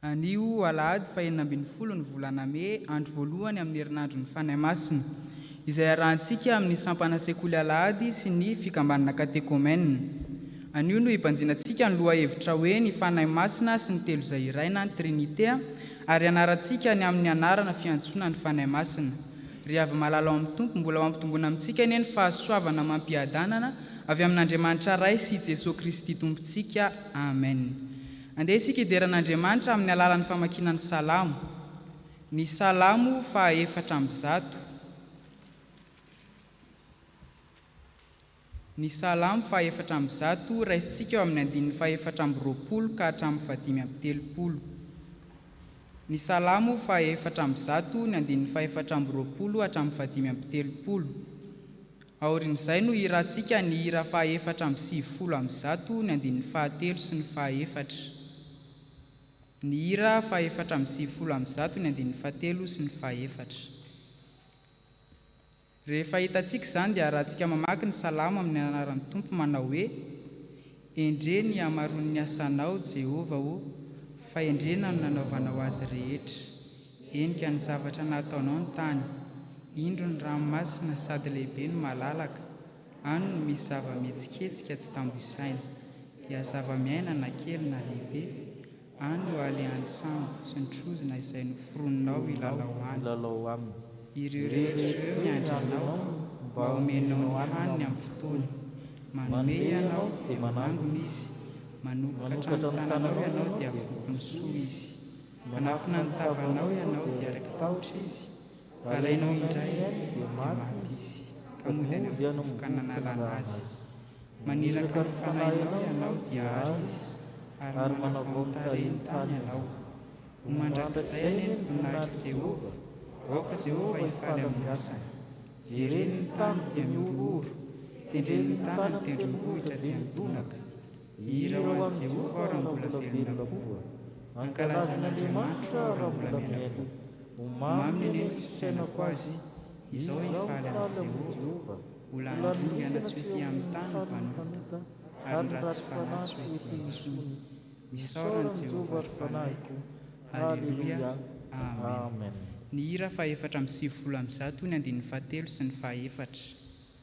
Anio alahady fahenina ambin'ny folo ny volana mey, andro voalohany amin'ny herinandron'ny Fanahy Masina, izay arahantsika amin'ny sampana Sekoly Alahady sy ny Fikambanana Katekomenina. Anio no hibanjinantsika ny lohahevitra hoe Ny Fanahy Masina sy ny Telo Izay Iray na ny Trinite ary hianarantsika ny amin'ny anarana fiantsoana ny Fanahy Masina. Ry havy malala ao amin'ny Tompo, mbola ho ampitomboina amintsika anie ny fahasoavana amam-piadanana avy amin'Andriamanitra Ray sy i Jesoa Kristy Tompontsika. Amen. Andeha isika hidera an'Andriamanitra amin'ny alalan'ny famakiana ny Salamo. Ny Salamo faha efatra amby zato. Ny Salamo faha efatra amby zato, raisintsika eo amin'ny andininy faha efatra amby roapolo ka hatramin'ny faha dimy amby telopolo. Ny Salamo faha efatra amby zato, ny andininy faha efatra amby roapolo hatramin'ny faha dimy amby telopolo. Aorian'izay no hirantsika ny hira fahaefatra amby sivifolo amby zato ny andininy fahatelo sy ny fahaefatra. Ny hira fahaefatra amby sivifolo amby zato ny andininy fahatelo sy ny fahefatra. Rehefa hitantsika izany dia arahantsika mamaky ny Salamo amin'ny anaran'ny Tompo manao hoe. Endrey ny hamaroan'ny asanao, Jehovah ô, fahendrena no nanaovanao azy rehetra. Henika ny zavatra nataonao ny tany. Indro ny ranomasina sady lehibe no malalaka, any no misy zava-mihetsiketsika tsy tambo isaina, dia zava-miaina na kely na lehibe. Any ho aly any sambo sy ny trozona izay noforoninao hilalao aminy. Ireo rehetra ireo miandry anao mba homenao ny haniny amin'ny fotoany. Manome ianao dia manangona izy, manokatra ny tananao ianao dia avoky ny soa izy. Manafina ny tavanao ianao dia raiki-tahotra izy. Alainao indray dia maty izy, ka mody any amin'ny vovoka nanalana azy. Maniraka ny fanahinao ianao dia àry izy, ary manavao ny tarehiny tany ianao. Ho mandrakizay anie ny voninahitr'i Jehovah, aoka Jehovah hifaly amin'ny asany. Jereny ny tany dia mihorohoro, tendreny ny tanany tendrombohitra dia midonaka. Hira ho an'i Jehovah aho raha mbola velona koa, hankalaza an'Andriamanitra aho raha mbola miaina. Ho mamy ny an'iny fisainako azy, izao hifaly amin'i Jehovah, ho lany ringana tsy ho ety amin'ny tany ny mpanota, ary ny ratsy fanahy tsy ho ety intsony. Isaora an'i Jehovah, ry fanahiko. Haleloia! Amen. Ny hira fahefatra amby sivifolo amby zato ny andininy fahatelo sy ny fahaefatra.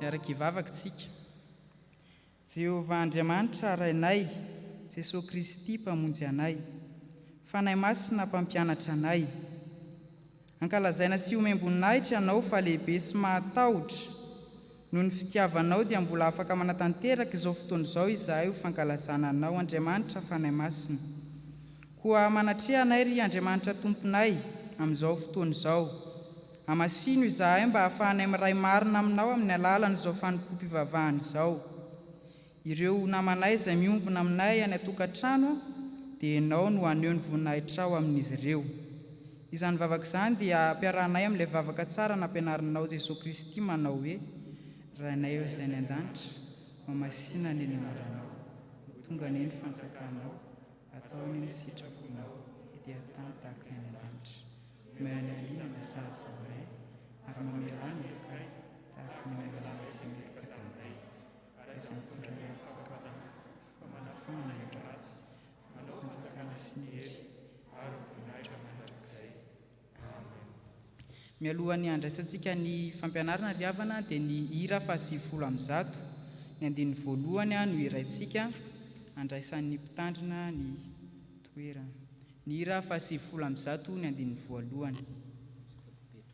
Miara-kivavaka tsika. Jehovah Andriamanitra Rainay, Jesoa Kristy Mpamonjy anay, Fanahy Masina Mpampianatra anay, Ankalazaina sy omem-boninahitra ianao fa lehibe sy mahatahotra. Noho ny fitiavanao dia mbola afaka manatanteraka izao fotoana izao izahay ho fankalazana anao Andriamanitra Fanahy Masina. Koa manatreha anay ry Andriamanitra Tomponay amin'izao fotoana izao. Amasino izahay mba hahafahanay miray marina aminao amin'ny alalan'izao fanompoam-pivavahana izao. Ireo namanay izay miombona aminay any an-tokantrano dia ianao no haneho ny voninahitrao amin'izy ireo. Izany vavaka izany dia ampiarahanay amin'ilay vavaka tsara nampianarinao Jesoa Kristy manao hoe, Rainay ao izay any an-danitra, mamasina anie ny anaranao. Ho tonga anie ny fanjakanao. Atao anie ny sitraponao, ety an-tany tahaka ny any an-danitra. Omeo anay anio ny lasary izao anay, ary mamela ny helokay tahaka ny mamelanay izay miheloka taminay. Karazam-pitondran'ny fahavalana, famanafahana ny ratsy, manao fanjakana sy ny hery ary voninahitra mandrakizay. Amen. Mialohan'ny handraisantsika ny fampianarana ry havana dia ny hira fahasivifolo amby zato ny andininy voalohany no hiraintsika handraisan'ny mpitandrina ny toerana. Ny hira fahasivifolo amby zato ny andininy voalohany.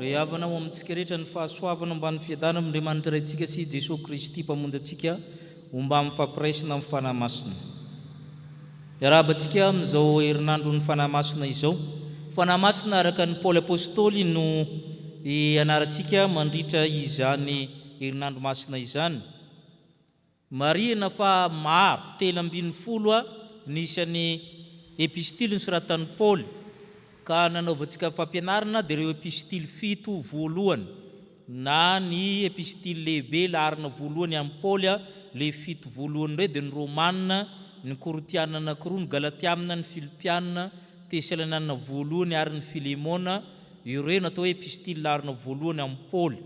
Ry havana, ho amintsika rehetra ny fahasoavana mba ny fiadanan'Andriamanitra Raintsika sy Jesoa Kristy Mpamonjy antsika ho mba mifampiraisina amin'ny Fanahy Masina. Miarahaba antsika amin'izao herinandron'ny Fanahy Masina izao. Fanahy Masina araka an'i Paoly Apostoly no hianarantsika mandritra izany herinandro masina izany. Marihina fa maro, telo ambin'ny folo, ny isan'ny Epistily nosoratan'i Paoly, ka nanaovantsika fampianarana dia ireo Epistily fito voalohany, na ny Epistily lehibe laharana voalohany amin'i Paoly, ilay fito voalohany indray dia ny Romana, ny Korintiana anankiroa, ny Galatiana, ny Filipiana, Tesalaniana voalohany ary ny Filemona, ireo no atao hoe Epistily laharana voalohany amin'i Paoly.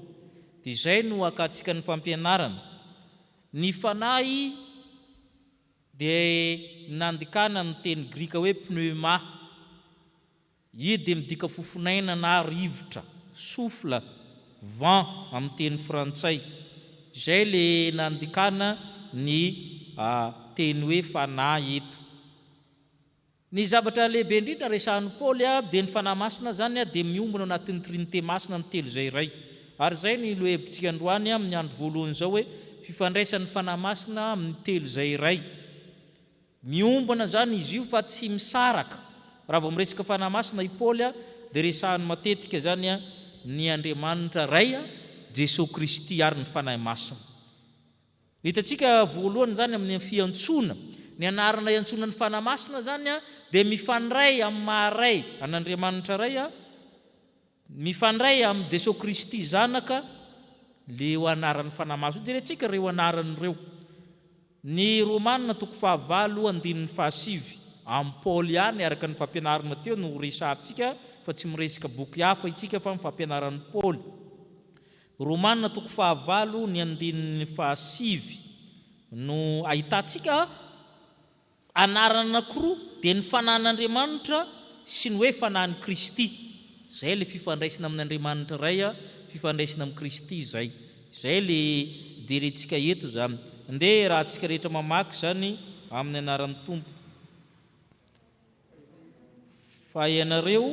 Dia izay no akatsikan'ny fampianarana. Ny fanahy dia nandikana amin'ny teny grika hoe pneuma. Io dia midika fofonaina na rivotra, souffle, vent amin'ny teny frantsay. Izay ilay nandikana ny teny hoe fanahy eto. Ny zavatra lehibe indrindra resahan'i Paoly dia ny Fanahy Masina, izany dia miombona ao anatin'ny Trinite Masina ny telo izay iray. Ary izay no lohahevitsika androany amin'ny andro voalohany izao hoe fifandraisan'ny Fanahy Masina amin'ny telo izay iray. Miombona izany izy io fa tsy misaraka. Raha vao miresaka Fanahy Masina i Paoly dia resahany matetika izany ny Andriamanitra Ray, Jesoa Kristy ary ny Fanahy Masina. Ny hitantsika voalohany izany amin'ny fiantsoana. Ny anarana iantsoana ny Fanahy Masina izany dia mifandray amin'ny maha Ray an'Andriamanitra Ray, mifandray amin'i Jesoa Kristy Zanaka ireo anaran'ny Fanahy Masina io. Jerentsika ireo anarana ireo. Ny Romana toko fahavalo andininy fahasivy. Amin'i Paoly ihany araka ny fampianarana teo no resahantsika fa tsy miresaka boky hafa isika fa ny fampianaran'i Paoly. Romana toko fahavalo ny andininy fahasivy no ahitantsika anarana anankiroa dia ny fanahin'Andriamanitra sy ny hoe fanahin'i Kristy. Izay ilay fifandraisana amin'Andriamanitra Ray, fifandraisana amin'i Kristy izay. Izay ilay jerentsika eto izany. Andeha hiarahantsika rehetra mamaky izany amin'ny anaran'ny Tompo. Fa ianareo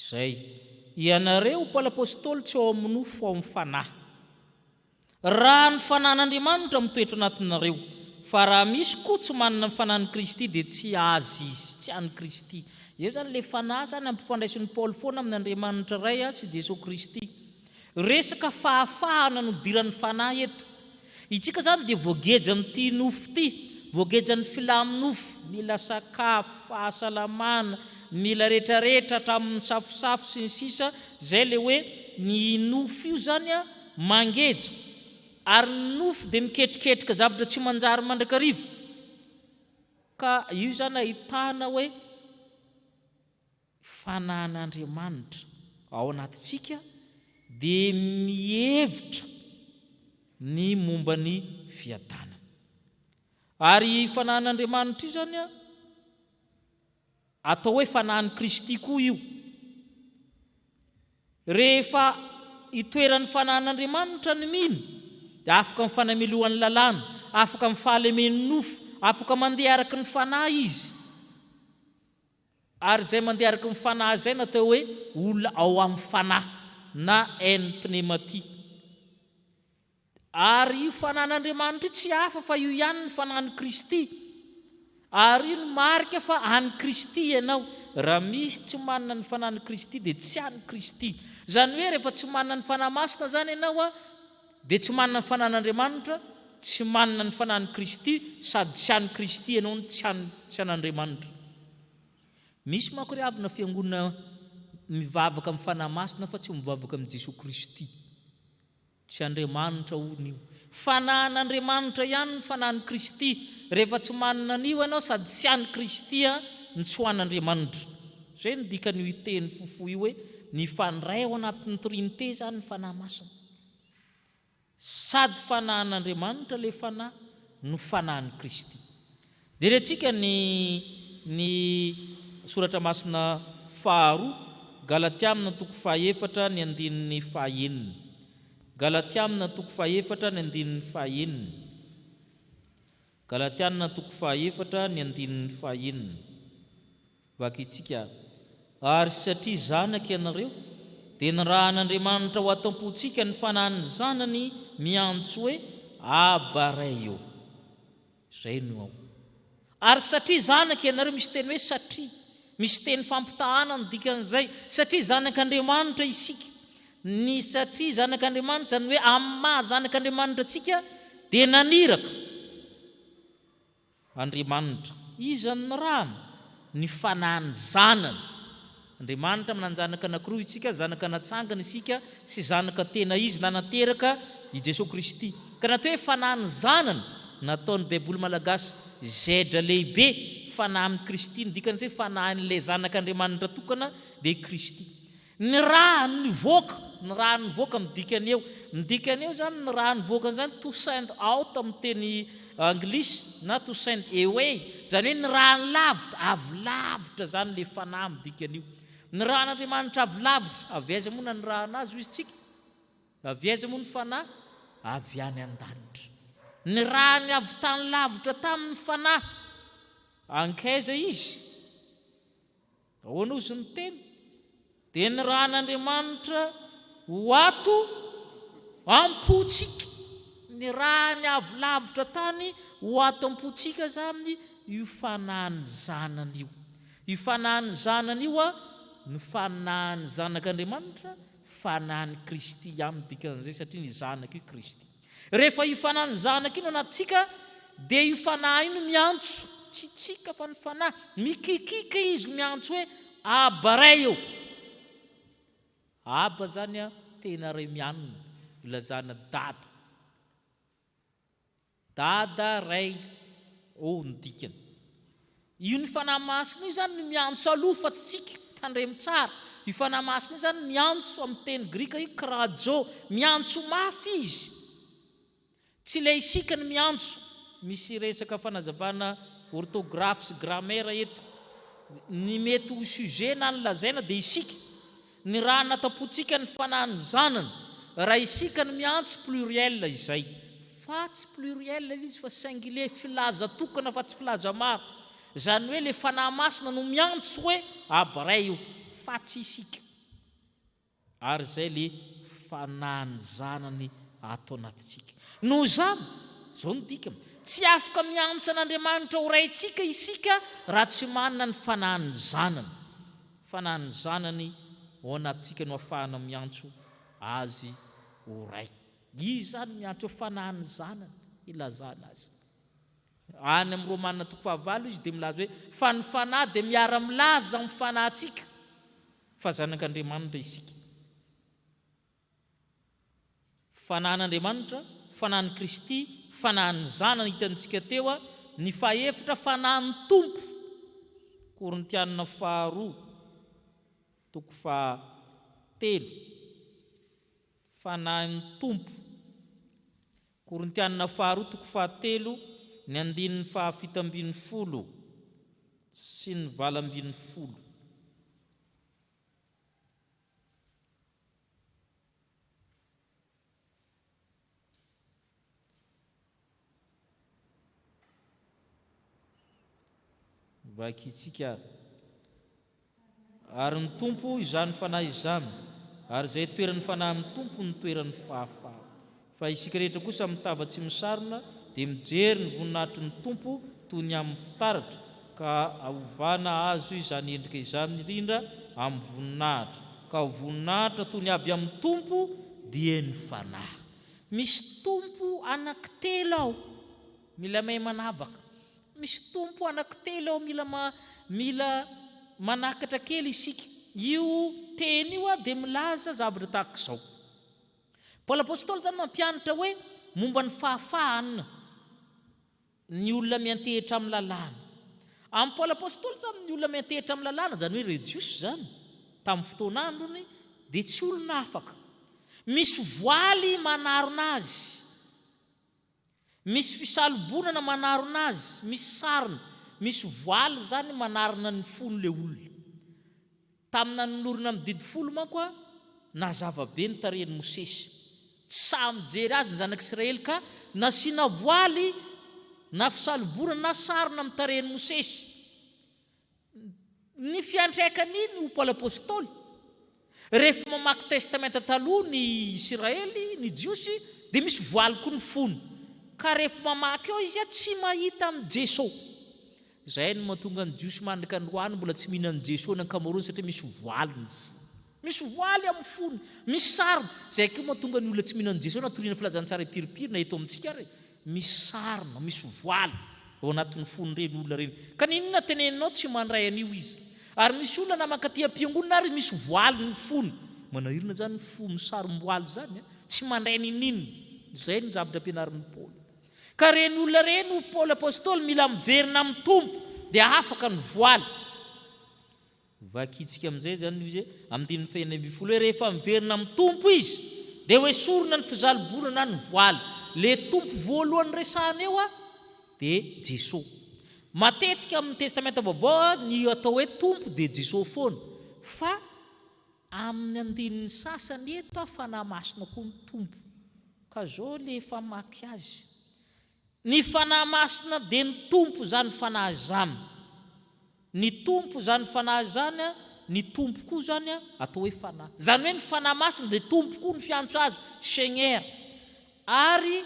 Izay. Ianareo mpanapostoly tsy ao amin'ny nofo fa ao amin'ny Fanahy. Raha ny fanan'Andriamanitra mitoetra anatinareo, fa raha misy koa tsy manana ny fanan'i Kristy dia tsy azy izy, tsy an'i Kristy. Eo izany ilay fanahy izany ampifandraisin'i Paoly foana amin'ny Andriamanitra Ray sy Jesoa Kristy. Resaka fahafahana nodiran'ny fanahy eto. Itsika izany dia voageja amin'ity nofo ity, voageja ny filaminofo, mila sakafo, fahasalamana, mila retraretra hatramin'ny safosafo sy ny sisa, izay ilay hoe ny nofo io izany a, Mangeja, ary ny nofo dia miketriketrika zavatra tsy manjary mandrakariva. Ka io izany ahitana hoe fanan'Andriamanitra ao anatintsika dia mihevitra ny momba ny fiadanana. Ary io fanan'Andriamanitra io izany an, Atao hoe fanahin'i Kristy koa io. Rehefa itoeran'ny fanahin'Andriamanitra ny mino, dia afaka amin'ny fanamelohan'ny lalàna, afaka amin'ny fahalemen'ny nofo, afaka mandeha araka ny Fanahy izy. Ary izay mandeha araka ny Fanahy izay no atao hoe olona ao amin'ny Fanahy, na en pneumatie. Ary io fanan'Andriamanitra io tsy hafa fa io ihany ny fanahin'i Kristy. Ary io no marika fa an'i Kristy ianao. Raha misy tsy manana ny fanahin'i Kristy dia tsy an'i Kristy. Izany hoe rehefa tsy manana ny Fanahy Masina izany ianao dia tsy manana ny fanan'Andriamanitra, tsy manana ny fanahin'i Kristy sady tsy an'i Kristy ianao no tsy an'i, tsy an'Andriamanitra. Misy manko ry havana fiangonana mivavaka amin'ny Fanahy Masina fa tsy mivavaka amin'i Jesoa Kristy. Tsy Andriamanitra hono io. Fanahin'Andriamanitra ihany ny fanahin'i Kristy. Rehefa tsy manana an'io ianao sady tsy an'i Kristy an, ny tsy ho an'Andriamanitra. Izay no dikan'io teny fofohy io hoe mifandray ao anatin'ny Trinite izany ny Fanahy Masina. Sady fanahin'Andriamanitra ilay Fanahy no fanahin'i Kristy. Jerentsika ny ny Soratra Masina faharoa, Galatiamina toko fahaefatra ny andininy fahaenina. Galatiamina toko fahaefatra ny andininy fahaenina. Galatianina toko fahaefatra ny andininy fahaenina. Vakintsika, Ary satria zanak' ianareo, dia nirahan' Andriamanitra ao an-tampontsika ny Fanahin' ny Zanany miantso hoe, Abba, Ray ô! Izay no ao. Ary satria zanaka ianareo, misy teny hoe satria, misy teny fampitahana ny dikan'izay, satria zanak'Andriamanitra isika. Ny satria zanak'Andriamanitra, izany hoe amin'ny maha zanak'Andriamanitra antsika, dia naniraka Andriamanitra. Iza no nirahany? Ny Fanahiny Zanany. Andriamanitra mananjanaka anankiroa isika, zanaka natsangana isika sy zanaka tena izy nanateraka i Jesoa Kristy. Ka na atao hoe fanahy ny zanany, nataon'ny baiboly malagasy zedra lehibe, fanahy amin'i Kristy, ny dikany izay fanahin'ilay zanak'Andriamanitra tokana dia i Kristy. Ny ra nivoaka, ny ra nivoaka midika ny eo, midika ny eo izany ny ra nivoaka an'izany to send out amin'ny teny Anglisy, na to send away, izany hoe nirahany lavitra, avy lavitra izany ilay fanahy midika an'io. Nirahan'Andriamanitra avy lavitra. Avy aiza moa nanirahana azy hoy istsika? Avy aiza moa ny fanahy? Avy any an-danitra. Nirahany avy tany lavitra tany ny fanahy. Ankaiza izy? Ahoana hoy izy niteny? Dia nirahan'Andriamanitra ho ato am-pontsika, nirahany avy lavitra tany ho ato am-pontsika izany io Fanahin'ny Zanany io. Io Fanahin'ny Zanany io no Fanahin'ny Zanak'Andriamanitra, Fanahin'i Kristy ihany ny dikan'izay, satria ny Zanaka io Kristy. Rehefa io Fanahin'ny Zanaka io no anatintsika dia io Fanahy io no miantso, tsy tsika fa ny Fanahy, mikikika izy miantso hoe Abba Ray ô! Abba zany a, tena Ray mianona, ilazana Dada. Dada, Ray ô no dikany. Io ny Fanahy Masina io izany no miantso aloha fa tsy tsika, tandremo tsara, io Fanahy Masina io izany miantso amin'ny teny grika io krajo, miantso mafy izy, tsy ilay isika no miantso, misy resaka fanazavana orthographe sy grammaire eto, ny mety ho sujet na ny lazaina dia isika, Ny raha anatapontsika ny fanahin'ny zanany, raha isika no miantso pluriel izay, fa tsy pluriel ilay izy fa singulier, filaza tokana fa tsy filaza maro, izany hoe ilay Fanahy Masina no miantso hoe Abray io, fa tsy isika. Ary izay ilay fanahin'ny zanany ato anatintsika. Noho izany, izao no dikany, tsy afaka miantso an'Andriamanitra ho Raintsika isika raha tsy manana ny fanahin'ny zanany. Fa na ny zanany ao anatintsika no afahana miantso Azy ho Ray. Izy izany miantso hoe Fanahy ny Zanany ilazana Azy. Any amin'ny Romana toko fahavalo Izy dia milaza hoe, Fa ny Fanahy dia miara-milaza amin'ny fanahintsika fa zanak'Andriamanitra isika. Fanahin'Andriamanitra, Fanahin'i Kristy, Fanahin'ny Zanany hitantsika teo ny fahefitra Fanahin'ny Tompo, Korintiana faharoa toko faha telo, Fanahin'ny Tompo, Korintiana faharoa toko faha telo ny andininy faha fito ambin'ny folo sy ny valo ambin'ny folo. Vakintsika ary. Ary ny Tompo izany Fanahy izany, ary izay toeran'ny Fanahy amin'ny Tompo no toeran'ny fahafahana. Fa isika rehetra kosa mitava tsy misarona dia mijery ny voninahitry ny Tompo toy ny amin'ny fitaratra, ka aovana azo izany endrika izany rindra amin'ny voninahitra, ka ho voninahitra toy ny avy amin'ny Tompo, dia ny Fanahy. Misy Tompo anankitelo ao, mila mahay manavaka. Misy Tompo anankitelo ao, mila mila manakatra kely isika. Io teny io dia milaza zavatra tahaka izao. Paoly Apôstôly izany mampianatra hoe momba ny fahafahan ny olona miantehitra amin'ny lalàna. Amin'i Paoly Apôstôly izany ny olona miantehitra amin'ny lalàna, izany hoe ireo Jiosy izany, tamin'ny fotoana androny, dia tsy olona afaka. Misy voaly manarona azy. Misy fisalobonana manarona azy, misy sarona, misy voaly izany manarona ny fon' ilay olona. Tamin'ny nanolorana ny Didy Folo manko, nazava be ny tarehin'i Mosesy. Tsy sahy mijery azy ny Zanak'i Israely ka nasiana voaly na fisalobonana na sarona amin'ny tarehin'i Mosesy. Ny fiantraikany iny ho Paoly Apostoly, rehefa mamaky Testamenta Taloha ny Isiraely, ny Jiosy, dia misy voaly koa ny fony, ka rehefa mamaky eo izy tsy mahita an'i Jeso. Izay no mahatonga ny Jiosy mandrak'androany mbola tsy mihinan'i Jeso ny ankamaroany satria misy voaly ny fony. Misy oaly amin'ny fony, misy sarona. Izay koa mahatonga ny olona tsy mino an'i Jesoa na toriana filazantsara hipiripiry na eto amintsika ary misy sarona, misy voaly ao anatin'ny fon'ireny olona ireny. Ka n'inona teneninao tsy mandray an'io izy. Ary misy olona na mankaty am-piangonana ary misy voaly ny fony. Manahirana izany ny fo misarom-boaly izany an! Tsy mandray n'in'inona. Izay no zavatra ampianarin'i Paoly. Ka ireny olona ireny hoy Paoly apostoly mila miverina amin'ny Tompo dia afaka ny voaly. Vakintsika amin'izay izany ny hoe amin'ny andininy fahenina ambin'ny folo hoe rehefa miverina amin'ny Tompo izy dia hoesorina ny fizaliboana na ny voaly. Ilay Tompo voalohany resahana eo dia Jesoa. Matetika amin'ny Testamenta Vaovao ny atao hoe Tompo dia Jesoa foana fa amin'ny andininy sasany eto Fanahy Masina koa ny Tompo. Ka izao ilay famaky azy. Ny Fanahy Masina dia ny Tompo izany Fanahy izany. Ny Tompo izany Fanahy izany, ny Tompo koa izany atao hoe Fanahy. Izany hoe ny Fanahy Masina dia Tompo koa ny fiantso Azy, Seigneur. Ary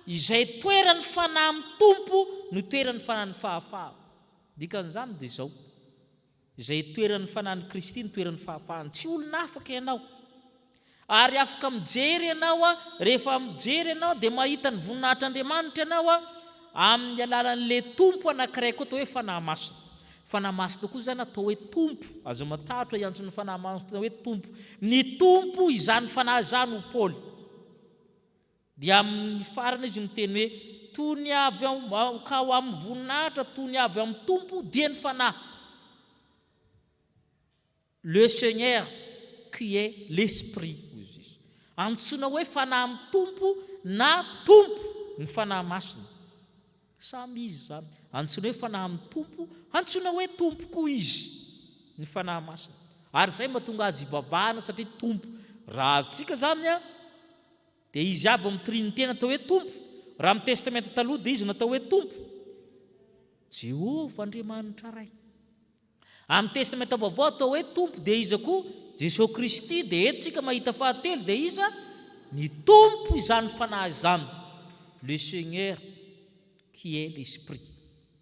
izay toeran'ny Fanahy amin'ny Tompo no toeran'ny Fanahin'ny fahafahana. Dikan'izany dia izao. Izay itoeran'ny Fanahin'i Kristy no toeran'ny fahafahany. Tsy olona afaka ianao. Ary afaka mijery ianao, rehefa mijery ianao dia mahita ny voninahitr'Andriamanitra ianao amin'ny alalan'ilay Tompo anankiray koa atao hoe Fanahy Masina. Fanahy Masina koa izany atao hoe Tompo. Aza matahotra hiantso ny Fanahy Masina hoe Tompo. Ny Tompo izany Fanahy izany, hoy Paoly. Dia amin'ny farany izy miteny hoe, Tony avy ao, ka ao amin'ny voninahitra tony avy amin'ny Tompo dia ny Fanahy. Le Seigneur qui est l'Esprit, hoy i Jesoa. Antsoina hoe Fanahy mitompo na Tompo ny Fanahy Masina. Samy Izy izany. Antsoina hoe Fanahy mitompo, antsoina hoe Tompo koa Izy, ny Fanahy Masina. Ary izay mahatonga Azy ivavahana satria Tompo. Raha azontsika izany, Dia izy avy ao amin'ny Trinite natao hoe Tompo, raha amin'ny Testamenta Taloha dia izy natao hoe Tompo, Jehovah Andriamanitra Ray. Amin'ny Testamenta Vaovao atao hoe Tompo dia iza koa? Jesoa Kristy, dia eto tsika mahita fahatelo dia iza? Ny Tompo izany Fanahy izany, le Seigneur qui est l'Esprit.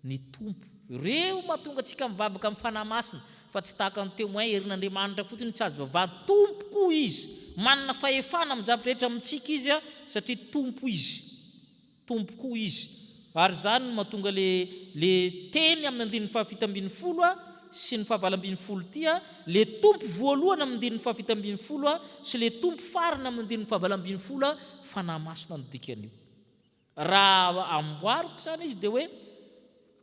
ny Tompo. Ireo mahatonga antsika mivavaka amin'ny Fanahy Masina, fa tsy tahaka ny Témoin herin'Andriamanitra fotsiny no tsy azo ivavahana. Tompo koa Izy. Manana fahefana amin'ny zavatra rehetra amintsika Izy satria Tompo Izy. Tompo koa Izy. Ary izany no mahatonga ilay ilay teny amin'ny andininy fahafito ambin'ny folo sy ny fahavalo ambin'ny folo ity, ilay Tompo voalohany amin'ny andininy fahafito ambin'ny folo sy ilay Tompo farany amin'ny andininy fahavalo ambin'ny folo, Fanahy Masina no dikan'io. Raha amboariko izany izy dia hoe,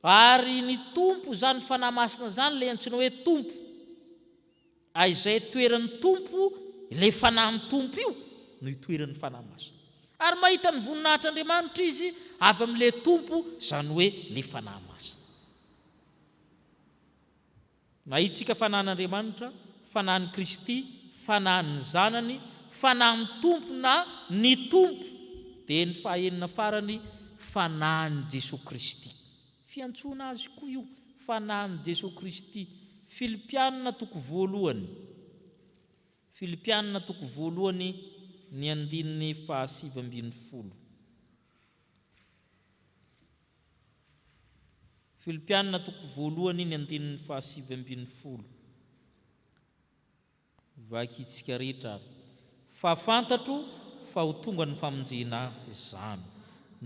Ary ny Tompo izany Fanahy Masina izany ilay antsoina hoe Tompo. A izay toeran'ny Tompo, ilay Fanahin'ny Tompo io no itoeran'ny Fanahy Masina. Ary mahita ny voninahitr'Andriamanitra izy avy amin'ilay Tompo, izany hoe ilay Fanahy Masina. Mahitsika fanahin'Andriamanitra, fanahin'i Kristy, fanahin'ny Zanany, fanahin'ny Tompo na ny Tompo, dia ny fahaenina farany, fanahin'i Jesoa Kristy. Fiantsoana azy koa io, fanahin'i Jesoa Kristy. Filipianina toko voalohany, Filipianina toko voalohany, ny andininy fahasivy ambin'ny folo. Filipiana toko voalohany ny andininy fahasivy ambin'ny folo. Vakintsika rehetra ary. Fa fantatro fa ho tonga ny famonjena izany,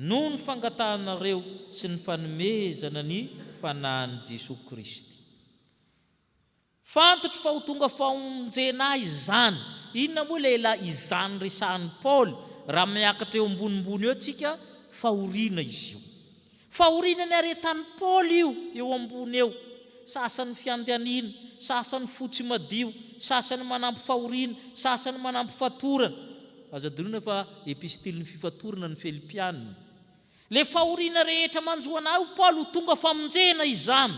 noho ny fangatahanareo sy ny fanomezana ny Fanahin'i Jesoa Kristy. Fantotro fa ho tonga famonjena ahy izany. Inona moa ilay elah izany resahan'i Paoly raha miakatra eo ambonimbony eo tsika fahoriana izy io? Fahoriana niaretan'i Paoly io eo ambony eo, sasany fiandaniana, sasany fo tsy madio, sasany manampy fahoriana, sasany manampy fatorana. Azo adinoina fa epistilin'ny fifatorana ny Filipianina. Ilay fahoriana rehetra manjo anà ho Paoly ho tonga famonjena izany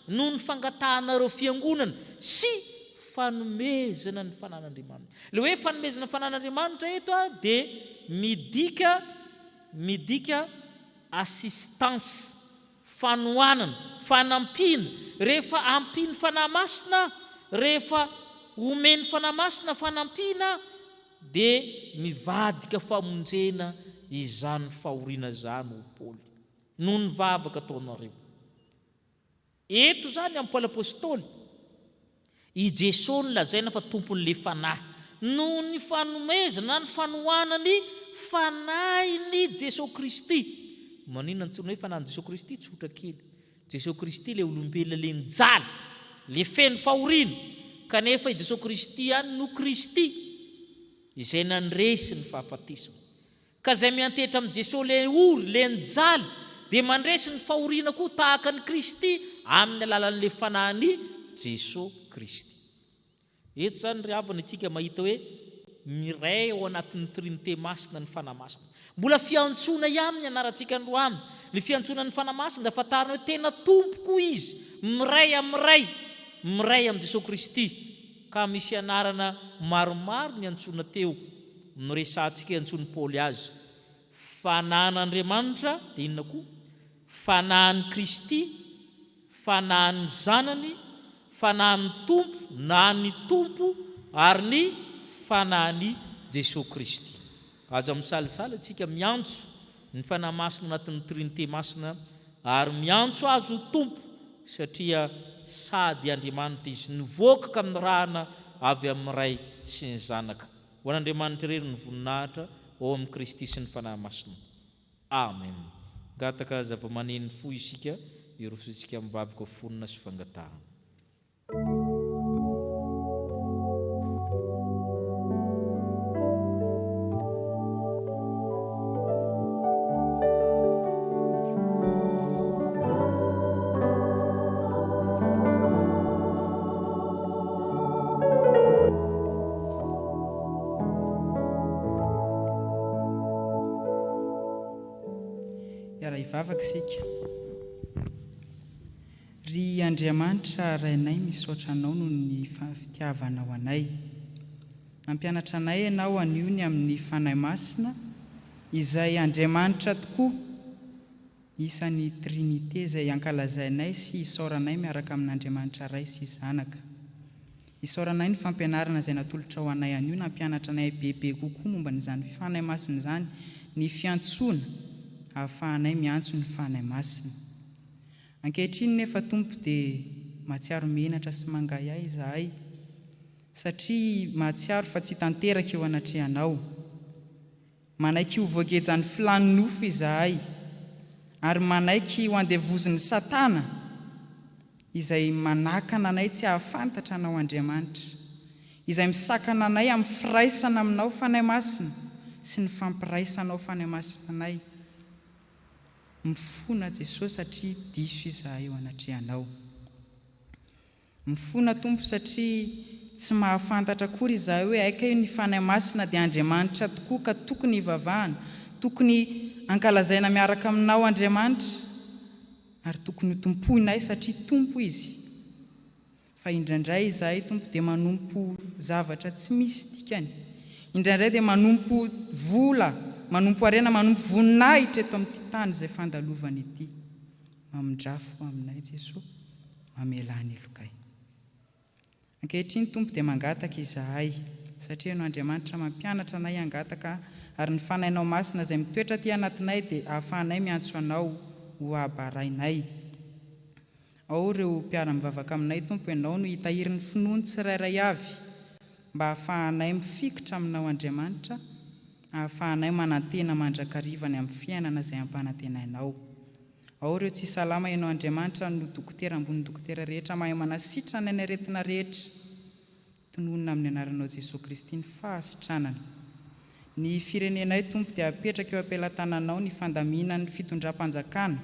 noho ny fangatahana ireo fiangonana sy fanomezana ny fanan'Andriamanitra. Ilay hoe fanomezana ny fanan'Andriamanitra eto dia midika midika assistance, fanohanana, fanampiana, rehefa ampian'ny Fanahy Masina, rehefa omen'ny Fanahy Masina fanampiana, Dia nivadika famonjena izany fahoriana izany ho Paoly, noho ny vavaka ataonareo. Eto izany amin'i Paoly Apostoly, i Jesoa no lazaina fa Tompon'ilay Fanahy. Noho ny fanomezana na ny fanohanana ny Fanahin'i Jesoa Kristy. Maninona antsoina hoe Fanahin'i Jesoa Kristy? Tsotra kely. Jesosy Kristy ilay olombelona ilay nijaly, ilay feno fahoriana, kanefa i Jesosy Kristy ihany no Kristy izay nandresy ny fahafatesana. Ka izay miantehitra amin'i Jesosy ilay ory, ilay nijaly, dia mandresy ny fahoriana koa tahaka an'i Kristy amin'ny alalan'ilay fanahin'i Jesosy Kristy. Eto izany ry havana isika mahita hoe miray ao anatin'ny Trinite Masina ny Fanahy Masina. Mbola fiantsoana ihany ny anarantsika androany. Ny fiantsoana ny Fanahy Masina dia fantarina hoe tena Tompo koa Izy, miray amin'ny Ray, miray amin'i Jesoa Kristy. Ka misy anarana maromaro niantsoana teo, noresahantsika hoe antsoin'i Paoly azy. Fanan'Andriamanitra dia inona koa? Fanahin'i Kristy, Fanahin'ny Zanany, Fanahin'ny Tompo na ny Tompo ary ny Fanahin'i Jesoa Kristy. Aza misalasala isika miantso ny Fanahy Masina anatin'ny Trinite Masina ary miantso Azy ho Tompo satria sady Andriamanitra Izy, nivoaka ka nirahana avy amin'ny Ray sy ny Zanaka. Ho an'Andriamanitra irery ny voninahitra ao amin'i Kristy sy ny Fanahy Masina. Amen! Gataka zavamaneno fo isika hirosointsika amin'ny vakoka fonona sy fangatahana. Hiara-hivavaka isika. Ry Andriamanitra Rainay, misaotra Anao noho ny fitiavanao anay. Nampianatra anay Ianao anio ny amin'ny Fanahy Masina, izay Andriamanitra tokoa, Isan'ny Trinite izay ankalazainay sy isaoranay miaraka amin'Andriamanitra Ray sy Zanaka. Isaoranay ny fampianarana izay natolotrao anay anio nampianatra anay bebe kokoa momba ny izany Fanahy Masina izany, ny fiantsoana ahafahanay miantso ny Fanahy Masina. Ankehitriny nefa Tompo dia mahatsiaro menatra sy mangahiahy izahay satria mahatsiaro fa tsy tanteraka eo anatrehanao. Manaiky ho voagejan'ny filàn'ny nofo izahay, ary manaiky ho andevozin'i Satana, izay manakana anay tsy hahafantatra Anao, Andriamanitra, izay misakana anay amin'ny firaisana Aminao, Fanahy Masina, sy ny fampiraisanao, Fanahy Masina anay. Mifona, Jesoa, satria diso izahay eo anatrehanao. Mifona Tompo satria tsy mahafantatra akory izahay hoe aika io ny Fanahy Masina dia Andriamanitra tokoa ka tokony hivavahana, tokony ankalazaina miaraka aminao Andriamanitra ary tokony ho tompoinay satria Tompo Izy. Fa indraindray izahay Tompo dia manompo zavatra tsy misy dikany, indraindray dia manompo vola, manompo harena, manompo voninahitra eto amin'ity tany izay fandalovana ity. Mamindrà fo aminay Jesoa, mamelà ny lokay. Ankehitriny Tompo dia mangataka izahay, satria Ianao Andriamanitra mampianatra anay hangataka ary ny Fanahinao Masina izay mitoetra aty anatinay dia ahafahanay miantso Anao ho Abarainay. Ao ireo mpiara-mivavaka aminay Tompo Ianao no hitahiry ny finoany tsirairay avy mba hahafahanay mifikitra Aminao Andriamanitra, hahafahanay manantena mandrakariva ny amin'ny fiainana izay ampanantenainao. Ao ireo tsy salama ianao Andriamanitra no dokotera ambony dokotera rehetra mahay manasitrana ny aretina rehetra tononina amin'ny anaranao Jesoa Kristy ny fahasitranana ny firenenay Tompo dia apetraka eo ampelatananao ny fandaminan'ny fitondram-panjakana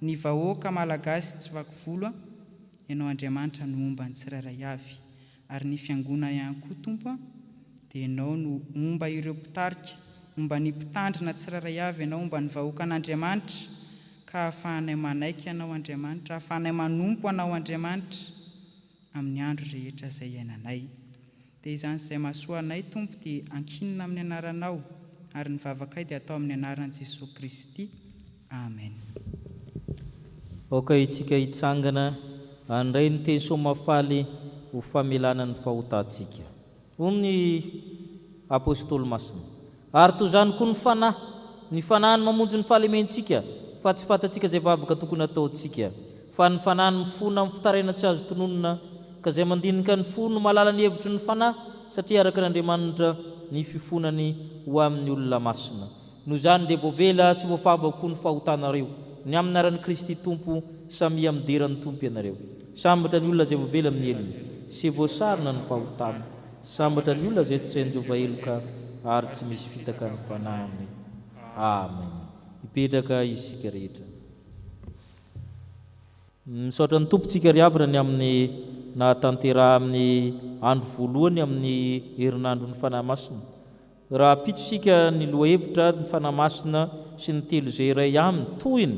ny vahoaka Malagasy tsy vaky volo ianao Andriamanitra no omban'ny tsirairay avy Ary ny fiangona ihany koa Tompo a, dia Ianao no homba ireo mpitarika, homba ny mpitandrina tsirairay avy Ianao, homba ny vahoakan'Andriamanitra, ka hahafahanay manaiky Anao Andriamanitra, hahafahanay manompo Anao Andriamanitra, amin'ny andro rehetra izay iainanay. Dia izany izay mahasoa anay Tompo dia ankinina amin'ny Anaranao, ary ny vavakay dia atao amin'ny Anaran'i Jesoa Kristy. Amen. Aoka itsika hitsangana handray ny teny soa mahafaly ho famelana ny fahotantsika. Hoy ny Apostoly Masina, Ary toy izany koa ny Fanahy, ny Fanahy no mamonjy ny fahalementsika, fa tsy fantatsika izay vavaka tokony hataontsika, fa ny Fanahy no mifona amin'ny fitarainana tsy azo tononina, ka izay mandinika ny fo no mahalala ny hevitry ny Fanahy, satria araka an'Andriamanitra ny fifonany ho amin'ny olona masina. Noho izany dia voavela sy voafavo avokoa ny fahotanareo, ny amin'ny anaran'i Kristy Tompo, samia midera ny Tompo ianareo. Sambatra ny olona izay voavela amin'ny helony, sy voasarona ny fahotany. Sambatra ny olona izay tsy hain-jova heloka, ary tsy misy fitaka ny fanahiny. Amen. Mipetraka isika rehetra. Misaotra ny Tompo tsika ry havana ny amin'ny nahatanteraha amin'ny andro voalohany amin'ny herinandron'ny Fanahy Masina. Raha ampitso isika ny lohahevitra ny Fanahy Masina sy ny telo izay iray aminy, tohiny,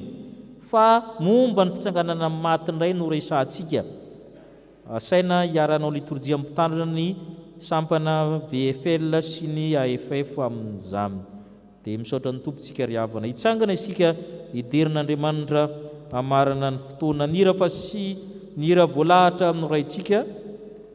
fa momba ny fitsanganana amin'ny maty indray no resahantsika. Asaina hiara-hanao litorjia mpitandrina ny sampana VFL sy ny AFF amin'izany. Dia misaotra ny Tompo tsika ry havana. Hitsangana isika hidera an'Andriamanitra hamarana ny fotoana. Ny hira fa sy ny hira voalahatra noraintsika.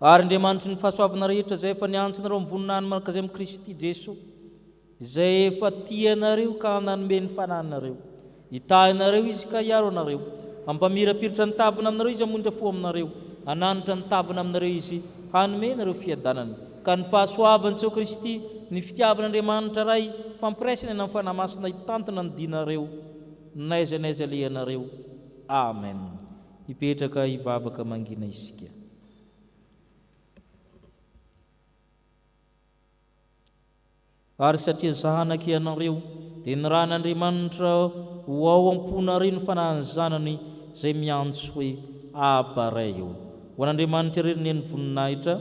Ary Andriamanitry ny fahasoavana rehetra izay efa niantso anareo amin'ny voninahiny manakazay amin'i Kristy Jesoa, izay efa tia anareo ka nanome ny Fanahiny anareo, hitahy anareo Izy ka hiaro anareo, hampamirapiratra ny tavany aminareo Izy hamonjy fo aminareo, hananatra ny tavany aminareo Izy hanome anareo fiadanana, ka ny fahasoavany seho Kristy, ny fitiavan'Andriamanitra Ray, fampiraisana eny amin'ny Fanahy Masina hitantana ny dinareo n'aiza n'aiza alehanareo. Amen. Hipetraka hivavaka mangina isika. Ary satria zanaka ianareo, dia nirahin' Andriamanitra ho ao am-ponareo ny fanahin'ny Zanany, izay miantso hoe, Abba, Ray ô! Ho an' Andriamanitra irery ny voninahitra,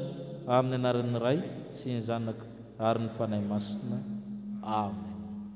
amin' ny anaran' ny Ray, sy ny Zanaka, ary ny Fanahy Masina. Amena.